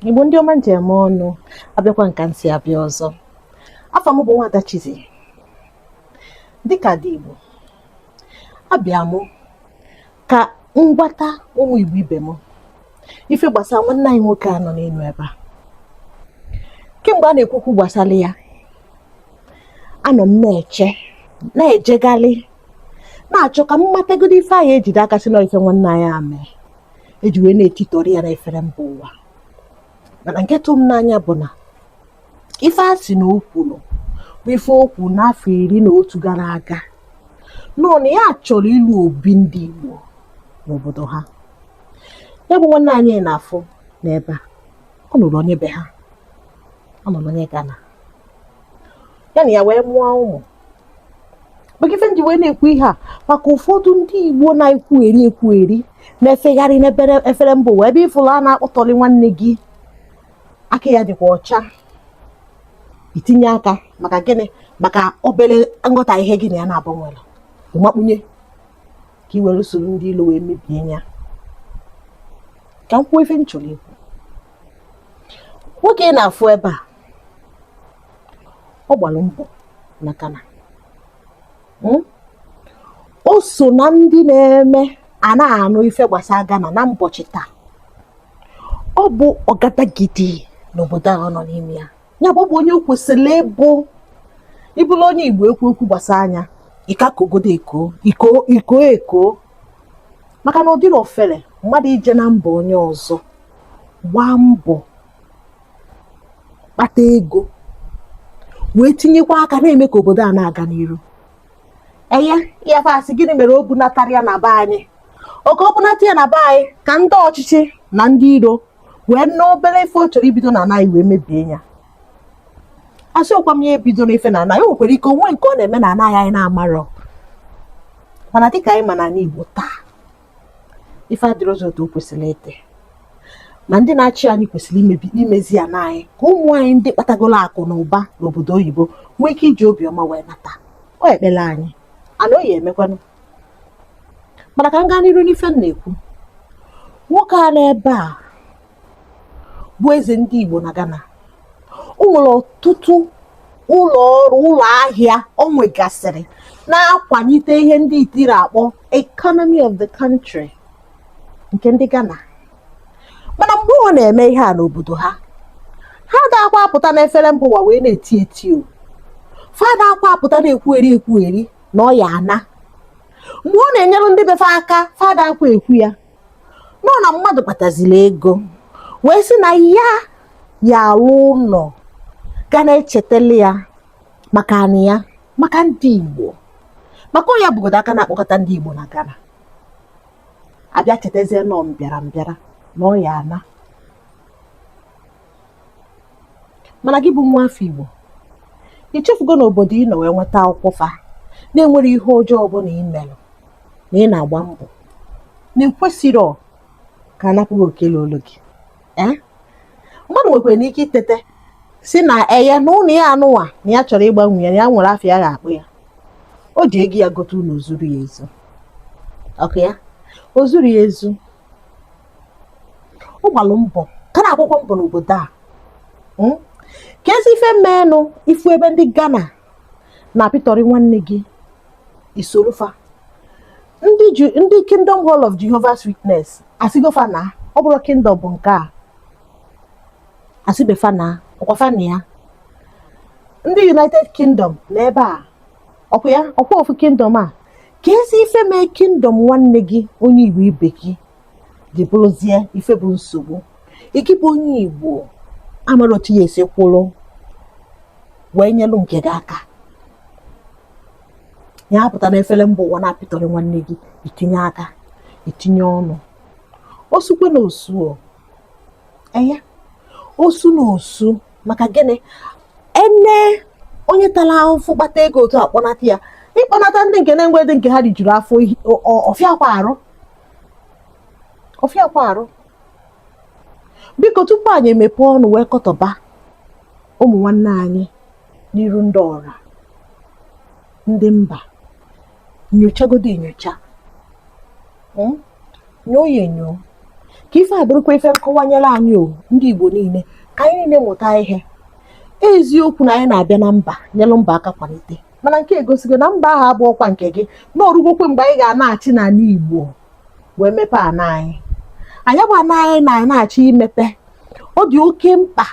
igbo ndị ọma m ji eme ọnụ abịakwa m ka m si abịa ọzọ afa m bụ nwada Chizzy dịka dị igbo abịa mụ ka m gwata ụmụ igbo ibe m ife gbasara nwanne anyị nwoke a nọ n'elu ebe a kemgbe a na-ekwu okwu gbasara ya anọ m na-eche na-ejegharị na-achọ ka m matagodo ife anyị ejide aka sị n'ife nwanne anyị a mee e ji wee na-etitọrị ya n'efere mba ụwa mana nke tụ m n'anya bụ na ife a sị na o kwuru bụ ife o kwuru n'afọ iri na otu gara aga nọ na ya chọrọ ịlụ obi ndị Igbo n'obodo ha ya bụ nwanne anyị ị na-afụ n'ebe a ọ nụrụ onye be ha ọ nụrụ onye Ghana ya na ya wee mụọ ụmụ maka ife m ji wee na-ekwu ihe a maka ụfọdụ ndị igbo na-ekwugheri ekwugheri na-efegharị n'ebere efere mba ụwa ebe ị fụlụ a na-akpọtọrị nwanne gị aka ya dịkwa ọcha i tinye aka maka gịnị maka obere nghọtahie gị na ya naabọ nwere ị makpunye ka i were usoro ndị ilu wee mebie ya ka m kwuo ife m chọrọ ikwu nwoke ị na-afụ ebe a ọ gbara mbọ na Ghana hmm? o so na ndị na-eme a na-anụ ife gbasara Ghana na mbọchị taa ọ bụ ọgadagidi n'obodo a ọ nọ n'ime ya ya bụ ọ bụ onye o kwesịrị ịbụ ị bụrụ onye Igbo e kwuo okwu gbasara ya ị ka kogodo eko iko iko eko maka na ọ dịrọ ofere mmadụ ije na mba onye ọzọ gbaa mbọ kpata ego wee tinyekwa aka na-eme ka obodo a na-aga n'iru enye ya fa sị gịnị mere o bunatarọ ya na be anyị okay o bunata ya na be anyị ka ndị ọchịchị na ndị iro wee nụ obere ife ọ chọrọ ibido n'ana anyị wee mebie ya asịrọkwa m ya ebidona ife n'ana anyị o nwekwara ike o nwee nke ọ na-eme n'ana anyị anyị na-amarọ mana dịka anyị ma n'ana Igbo taa ife adịrọzị otu o kwesịrị ịdị ma ndị na-achị anyị kwesịrị imebi imezi ana anyị ka ụmụ anyị ndị kpatagoro akụ na ụba n'obodo oyibo nwee ike iji obiọma wee nata ọ ekpere anyị and ọ ya-emekwanụ mana ka m gaa n'iru n'ife m na-ekwu nwoke a n'ebe a bụ eze ndị Igbo na Ghana o nwere ọtụtụ ụlọ ọrụ ụlọ ahịa o nwegasịrị na-akwalite ihe ndị itiri akpọ economy of the country nke ndị Ghana mana mgbe ọ na-eme ihe a n'obodo ha ha adakwa apụta n'efere mba ụwa wee na-eti eti o fa adakwa apụta na-ekwugheri ekwugheri na ọ ya-ana mgbe ọ na-enyere ndị be fa aka fa adakwa ekwu ya nọ na mmadụ kpataziri ego wee sị na ya ya alụ ụnọ ga na-echetele ya maka anị ya maka ndị Igbo maka ọ nya bụgodo aka na-akpọkọta ndị Igbo na Ghana a bịa chetazie na ọ mbịara mbịara na ọ ya-ana mana gị bụ nwa afọ Igbo ichefugo na obodo ị nọ wee nweta akwụkwọ fa na enwerọ ihe ọjọọ ọbụla ị mere na ị na-agba mbọ na ekwesịrọ ka a napụ gị oke luolu gị eh? mmadụ nwekwaranụ ike itete sị na eye na ụnọ ya anụwa na ya chọrọ ịgbanwe ya na ya nwere afa ya ga-akpọ ya o ji ego ya gote ụnọ o zuru ya ezu ọkụ ya o zuru ya ezu ọ gbalụ mbọ ka na-agbakwa mbọ n'obodo a hmm? keezi ife meenụ ị fụ ebe ndị Ghana na-apịtọrị nwanne gị i soro fa ndị Kingdom Hall of Jehovah's Witness a sịgo fa naa ọ bụrọ Kingdom bụ nke a a sịbe fa naa ọkwa fa nọ ya ndị United Kingdom nọ ebe a ọkwa ya ọkwa ofu Kingdom a keezi ife mee kingdom nwanne gị onye igbo ibe gị ji bụrụzie ife bụ nsogbu gị bụ onye igbo amarọ otu ị ya-esi kwụrụ wee nyelụ nke gị aka ya apụta na efere mba ụwa na-apịtọrị nwanne gị i tinye aka i tinye ọnụ osukwe na osu enye osu na osu maka gịnị ene onye tara ahụfụ kpata ego otu a kpọnata ya ịkpọnata ndị nke na-enwedị nke ha rijuru afọ tụfịakwa arụ tụfịakwa arụ biko tupu anyị emepe ọnụ wee kọtọba ụmụ nwanne anyị n'iru ndị ọra ndị mba nyochagodo enyocha hmm? nyoo ya enyo ka ife a bụrụkwa ife nkọwanyere anyị o ndị Igbo niile ka anyị niile mụta ihe eziokwu na anyị na-abịa na mba nyelụ mba aka kwalite mana nke a egosigo na mba ahụ abụrọkwa nke gị na orugokwa mgbe anyị ga-anachi n'ala Igbo wee mepe ana anyị ya bụ ana anyị na-achọ imepe ọ dị oke mkpa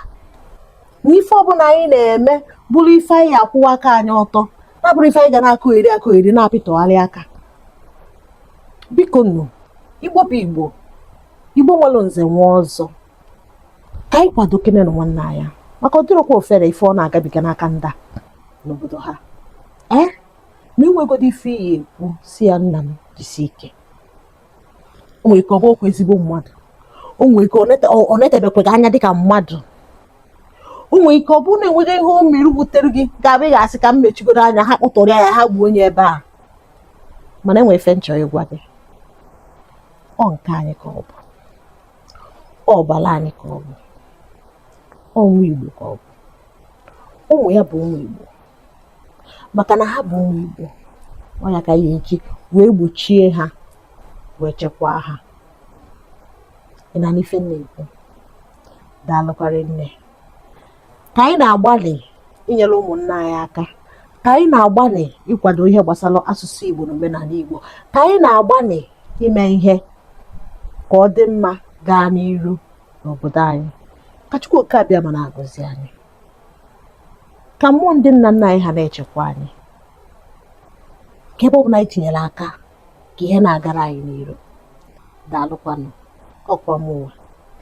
na ife ọbụla anyị na-eme bụrụ ife anyị ya-akwụwa aka anyị ọtọ na ọ bụrọ ife anyị ga na-akọgheri akọgheri na-apịtọgharị aka biko nụ igbo bụ igbo igbo nwere nze nwee ọzọ ka anyị kwadokenenụ nwanne anyị maka ọ dịrọkwa ọfere ife ọ na-agabiga n'aka ndị a n'obodo ha ee ma enwegodo ife ị ya-ekwu sị ya nna m jisi ike o nwere ike ọ bụrọkwa ezigbo mmadụ o nwere ike ọ netebekwa gị anya dịka mmadụ o nwere ike ọ bụrụ na enweghị ihe o mere wutere gị ga-abụ ị ga-asị ka m mechigodo anya ha kpụtụrụ ya ha gbuo onye ebe a mana enwere ife m chọrọ ịgwa gị ọ nke anyị ka ọ bụ ọ ọbara anyị ka ọ bụ ọ nwa igbo ka ọ bụ ụmụ ya bụ ụmụ igbo maka na ha bụ ụmụ Igbo ọ ya ka a ya-eji wee gbochie ha wee chekwaa ha ị na-anụ ife m na-ekwu daalụkwa rinne ka anyị na-agbalị inyere ụmụnna anyị aka ka anyị na-agbalị ịkwado ihe gbasara asụsụ Igbo na omenala Igbo ka anyị na-agbalị ime ihe ka ọ dị mma gaa n'iru n'obodo anyị ka Chukwu oke Abịama na-agọzi anyị ka mmụọ ndị nna nna anyị ha na-echekwa anyị ka ebe ọ bụla anyị tinyere aka ka ihe na-agara anyị n'iru daalụkwanụ ọkwa mụwa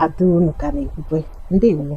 ada unu ka na-ekwukwe ndeewo